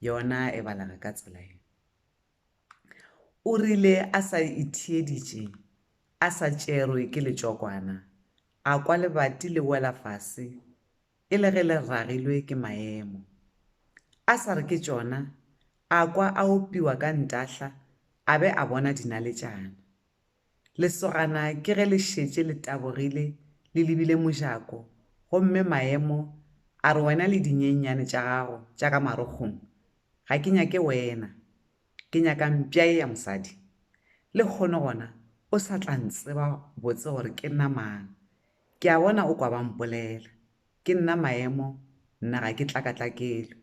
yona e balega ka tsela ye o rile a sa itheeditše a sa tšerwe ke letšokwana a kwa lebati le wela fase e le ge le ragilwe ke maemo a sa re ke tšona a kwa a opiwa ka ntahla a be a bona dinaletšana Lesogana ke ge le šetše le tabogile le lebile mojako gomme Maemo a re wena le dinyenyane tša gago tša ka marokgong ga ke nyake wena, ke nyaka mpša ye ya mosadi. Lehono gona o sa tla ntseba botse gore ke nna mang. Ke a bona o kwa ba mpolela. Ke nna Maemo, nna ga ke tlakatlakelwe.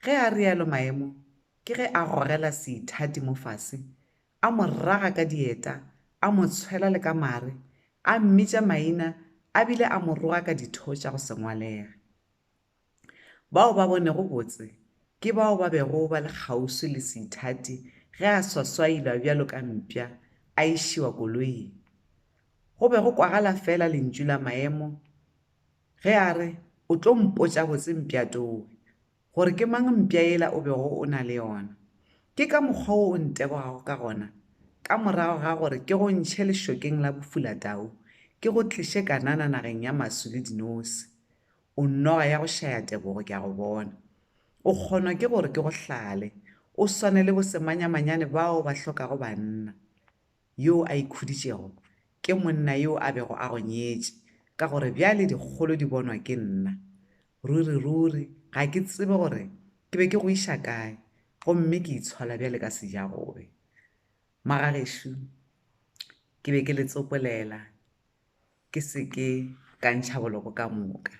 Ge a realo Maemo ke ge a gogela seithati mo fase a mo raga ka dieta, a mo tshwela le ka mare, a mmitša maina a bile a mo roga ka ditho tša go se ngwalega. Bao ba bonego botse ke bao ba bego ba le kgauswi le seithati ge a swaswailwa bjalo ka mpša a išiwa koloing. Go be go kwagala feela lentšu la maemo ge a re, O tlo mpotša botse mpjatowe, gore ke mang mpša yela o bego o na le yona. Ke ka mokgwa wo o ntebogago ka gona, ka morago ga gore ke go ntšhe lešokeng la bofulatau, ke go tliše Kanana nageng ya maswi le dinosi. O noga ya go šaya tebogo, ke a go bona. O kgonwa ke gore ke go hlale, o swane le bosemanyamanyane bao ba hlokago banna. yoo a ikhuditšego, ke monna yo a bego a go nyetše, ka gore bjale dikgolo di bonwa ke nna. Ruriruri ga ke tsebe gore ke be ke go iša kae, gomme ke itshola bjale ka sejagobe. Magagešo, ke be ke le tsopolela ke se ke ka ntšha boloko ka moka.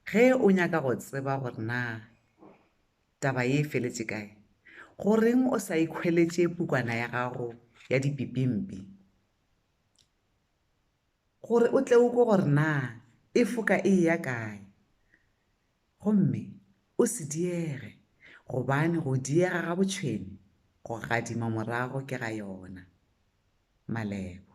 Ge o nyaka go tseba gore na Taba ye e feletše kae? Goreng o sa ikhweletše pukwana ya gago ya dipipimpi gore o tle o kwe gore na e foka e eya kae? Gomme o se diege, gobane go diega ga botšhwene go gadima morago ke ga yona. Malebo.